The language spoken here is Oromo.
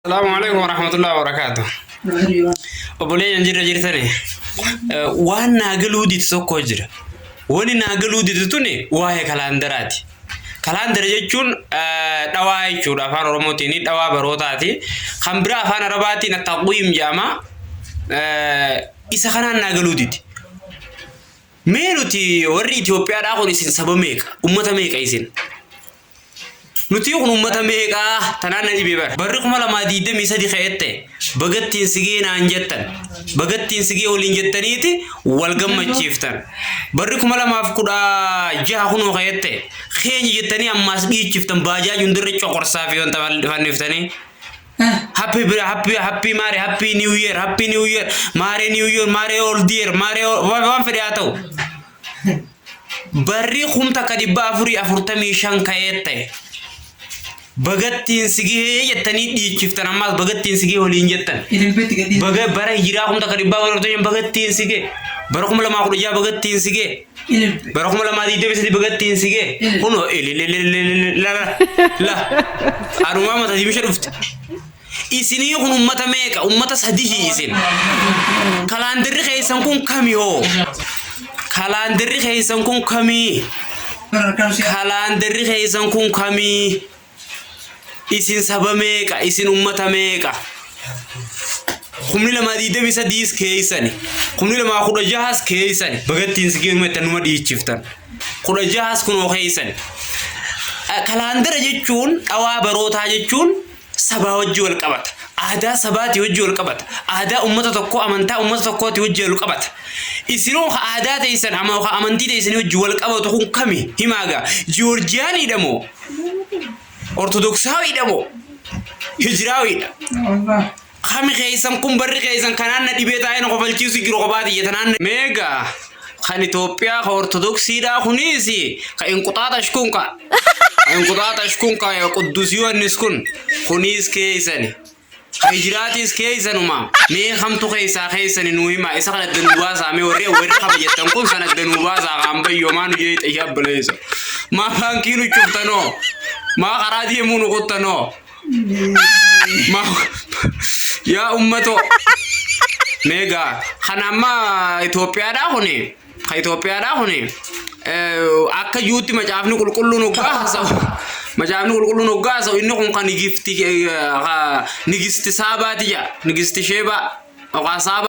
Salaamu alaikum wa rahmatullahi wa barakaatu. Obboleeyyan jirra jirtani. Waan naa galuu didu tokko jira. Wani naa galuu didu tuni waa'ee kalaandaraati. Kalaandara jechuun dhawaa jechuudha afaan Oromootiin dhawaa barootaati. Kan biraa afaan Arabaatiin attaqwiim jedhama. Isa kanaan naa galuu didi. Mee nuti warri Itoophiyaadhaa kun isin saba meeqa? Ummata meeqa isin? Nutii kun uummata meeqaa tanaan na dhibee bara. Barri kuma lamaa diidamii sadi ka'ette bagattiin sigee naan jettan bagattiin sigee waliin jettaniiti wal gammachiiftan. Barri kuma lamaaf kudha jaha kunoo ka'ette keenya jettanii ammaas dhiichiftan baajaaj hundarra coqorsaa fi wanta fanniftanii. Happy bira happy happy maare happy new year happy new year maare new year maare old year maare waan fedhe haa ta'u. barri kum takka dhibba afurii afurtamii shan ka'eet ta'e. Bagattiin si gahee jettanii dhiichiftan ammaas bagattiin si gahee waliin jettan. Ililbeetti gadhiisa. Baga bara hijiraa kum takka dhibba afurii afurtamii shan bagattiin si gahee. Bara kuma lamaa kudha jaha bagattiin si gahee. Ililbe. Bara kuma lamaa digdamii sadii bagattiin si gahee. Ilil. Kunoo ilililililililala. La. Anumaa mata dimisha dhufte. Isinii kun ummata meeqa? Ummata sadihi isin. Kalaandirri keessan kun kami hoo? Kalaandirri keessan kun kami? Kalaandirri keessan kun kami? Isin saba meeqa? Isin ummata meeqa? Kumni lamaa digdamii sadiis keessani. Kumni lamaa kudha jahas keessani. Bagattiin si geemma itti numa dhiichiftan. Kudha jahas kunoo keessani. Kalaandira jechuun dhawaa barootaa jechuun sabaa wajji wal qabata. Aadaa sabaati wajji wal qabata. Aadaa ummata tokkoo amantaa ummata tokkooti wajji wal qabata. Isinoo ka aadaa teessan ama ka amantii teessanii wajji wal qabatu kun kami himaagaa Jiyoorjiyaaniidha moo Ortodoksaawidha moo Hijiraawiidha? Kami keessan kun barri keessan kanaan na dhibee taa'ee na kofalchiisu jiru kophaa tiyya tanaan na meega kan Itoophiyaa ka Ortodoksiidhaa kunis ka inquxaaxash kun ka inquxaaxash kun ka Quddus Yohannis kun kunis keessani ka hijiraatiis keessanuma mee kamtu keessaa keessani nuu himaa isa kan adda nuu baasaa mee warri warri kama jettan kun san adda nuu baasaa kaan bayyoo maa nu jeexa yaa baleessa maa baankii nu cuftanoo maa karaa deemuu nu kuttanoo Yaa ummatoo. Meegaa kan amma Itoophiyaadhaa kuni kan Itoophiyaadhaa kuni akka yuutti macaafni qulqulluun hoggaa haasa'u macaafni qulqulluun hoggaa haasa'u inni kun kan nigifti nigisti saabaati jedha nigisti sheebaa yookaan saabaa.